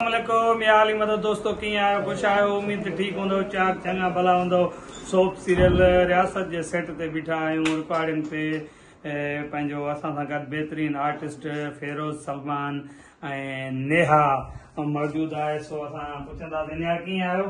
السلام عليڪم يا علي مدد دوستو ڪيئن آهيو خوش آهيو اميد ته ٺيڪ هوندؤ چاڪ چڱا ڀلا هوندؤ سوپ سيريل رياست جي سيٽ تي بيٺا آهيون رڪارڊنگ تي پنهنجو اسان سان گڏ بهترين آرٽسٽ فيروز سلمان ۽ نيها موجود آهي سو اسان پڇنداسين نيها ڪيئن آهيو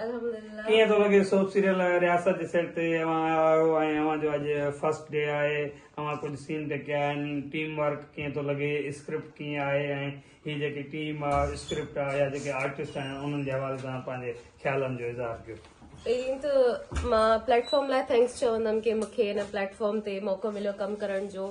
الحمدلله. ڪيئن ٿو لڳي سوپ سيريل رياست جي سيٽ تي اوهان آيا آهيو ۽ اوهان جو اڄ فرسٽ ڊي آهي اوهان ڪجهه سين ٽڪيا آهن ٽيم ورڪ ڪيئن ٿو لڳي اسڪرپٽ ڪيئن آهي ۽ هي جيڪي ٽيم آ اسڪرپٽ آ يا جيڪي آرٽسٽ آهن انهن جي حوالي سان پنهنجي خيالن جو اظهار ڪيو. پهرين ته مان پليٽ فارم لاء ٿينڪس چوندم ڪي مونکي هن پليٽ فارم تي موقعو مليو ڪم ڪرڻ جو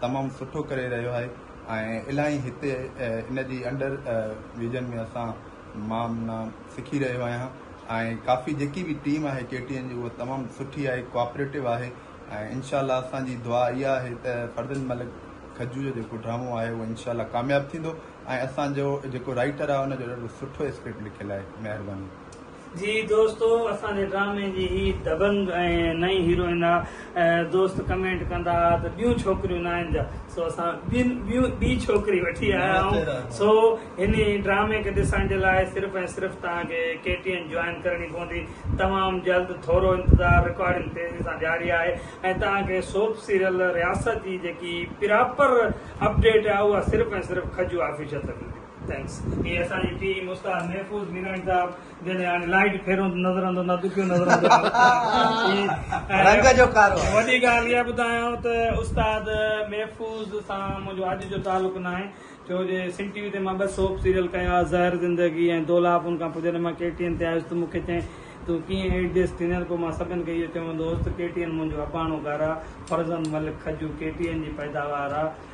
تمام سٺو ڪري رهيو آهي ۽ الاهي هتي ان جي انڊر ويجن ۾ اسان مان منا سکي رهيو آهيان ۽ ڪافي جيڪي به ٽيم آهي ڪي ٽي اين جي اها تمام سٺي آهي ڪوآپريٽو آهي ۽ انشاء الله اسان جي دعا اها آهي ته فرزند ملڪ کجو جو جيڪو ڊرامو آهي اهو انشاء الله ڪامياب ٿيندو ۽ اسان جو جيڪو رائيٽر آهي ان جو ڏاڍو سٺو اسڪرپٽ لکيل آهي مهرباني جي دوستو اسان جي ڊرامي جي هي دبنگ ۽ نئين هيروئن آ دوست ڪمينٽ ڪندا آ ته ٻيون ڇوڪريون ناهن جا سو اسان ٻين ٻيون ٻي ڇوڪري وٺي آيا آهون سو هن ڊرامي کي ڏسڻ جي لاء صرف ۽ صرف توهان کي ڪي ٽي اين جوائن ڪرڻي پوندي تمام جلد ٿورو انتظار رڪارڊنگ تيزي سان جاري آهي ۽ توهان کي سوپ سيريل رياست جي جيڪي پراپر اپڊيٽ آ اها صرف ۽ صرف کجو آفيشل تي ملندي. Thanks. هي اسان جي ٽيم استاد محفوظ ميراڻي صاحب جڏهن هاڻي لائيٽ ڦيرون ته نظر اندو نه دکيو نظر اندو ۽ رنگ جو ڪارو وڏي ڳالهه اها ٻڌايان ته استاد محفوظ سان منهنجو اڄ جو تعلق ناهي ڇو جي سنڌ ٽي وي تي مان ٻه سوپ سيريل ڪيا زهر زندگي ۽ دولاڀ ان کان پوء جڏهن مان ڪي ٽي اين تي آيس ته مون کي چيائين تون ڪيئن ايڊجسٽ ٿيندين پوء مان سڀن کي اهو چيو هوندو هوس ته ڪي ٽي اين منهنجو اباڻو گهر آهي فرزند ملڪ کجو ڪي ٽي اين جي پيداوار آهي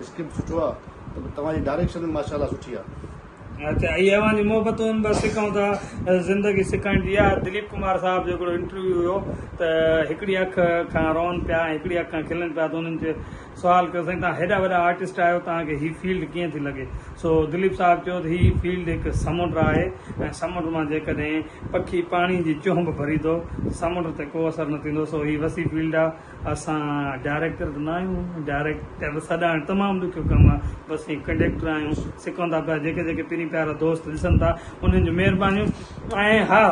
اسڪرپٽ سٺو آ ته توهان جي ڊاريڪشن به ماشاء الله سٺي آ. اچا هي اوهان جي محبتون بس سکون ٿا زندگي سکائڻ جي اها دليپ ڪمار صاحب جو هڪڙو انٽرويو هيو ته هڪڙي اک کان روئن پيا ۽ هڪڙي اک کان کلن پيا ته انهن چي سوال ڪيو سائين توهان هيڏا وڏا آرٽسٽ آهيو توهان کي هي فيلڊ ڪيئن ٿي لڳي سو دليپ صاحب چيو ته هي فيلڊ هڪ سمنڊ آهي ۽ سمنڊ مان جيڪڏهن پکي پاڻي جي چهنب ڀري ٿو ته سمنڊ تي ڪو اثر نه ٿيندو سو هي وسيع فيلڊ آ اسان ڊائريڪٽر ته نه آهيون، ڊائريڪٽر سڏائڻ تمام ڏکيو ڪم آهي، بس ائين ڪنڊيڪٽر آهيون، سڪون ٿا پيا، جيڪي جيڪي پرين پيارا دوست ڏسن ٿا انهن جون مهربانيون ۽ ها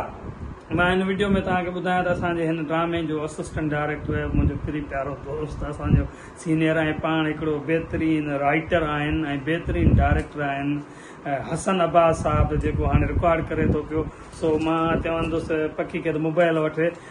مان هن وڊيو ۾ توهان کي ٻڌايان ته اسان جي هن ڊرامي جو اسسٽنٽ ڊائريڪٽر منهنجو پرين پيارو دوست اسان جو سينيئر ۽ پاڻ هڪڙو بهترين رائيٽر آهن ۽ بهترين ڊائريڪٽر آهن حسن عباس صاحب جيڪو هاڻي رڪارڊ ڪري ٿو پيو سو مان چوندس پکي کي ته موبائل وٺي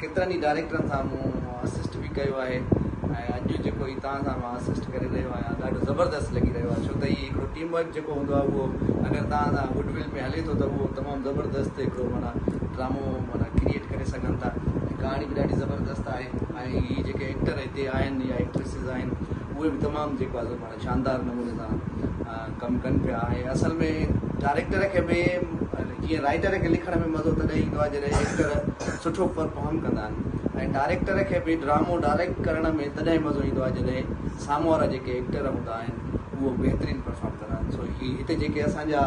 ڪيترن ئي ڊائريڪٽرن سان مون اسسٽ به ڪيو آهي ۽ اڄ جيڪو هي توهان سان مان اسسٽ ڪري رهيو آهيان ڏاڍو زبردست لڳي رهيو آهي ڇو ته هي هڪڙو ٽيم ورڪ جيڪو هوندو آهي اهو اگر توهان سان گڊ ول ۾ هلي ٿو ته اهو تمام زبردست هڪڙو معنيٰ ڊرامو معنيٰ ڪريئيٽ ڪري سگهن ٿا ۽ ڪهاڻي به ڏاڍي زبردست آهي ۽ هي جيڪي ايڪٽر هتي آهن يا ايڪٽريسز آهن اهي به تمام جيڪو آهي شاندار نموني سان ڪم ڪن پيا ۽ اصل ۾ ڊائريڪٽر کي به جيئن رائيٽر کي لکڻ ۾ مزو تڏهن ايندو آهي جڏهن ايڪٽر سٺو پرفارم ڪندا آهن ۽ ڊائريڪٽر کي به ڊرامو ڊائريڪٽ ڪرڻ ۾ تڏهن مزو ايندو آهي جڏهن سامهون وارا جيڪي ايڪٽر هوندا آهن اهو بهترين پرفارم ڪندا آهن سو هي هتي جيڪي اسان جا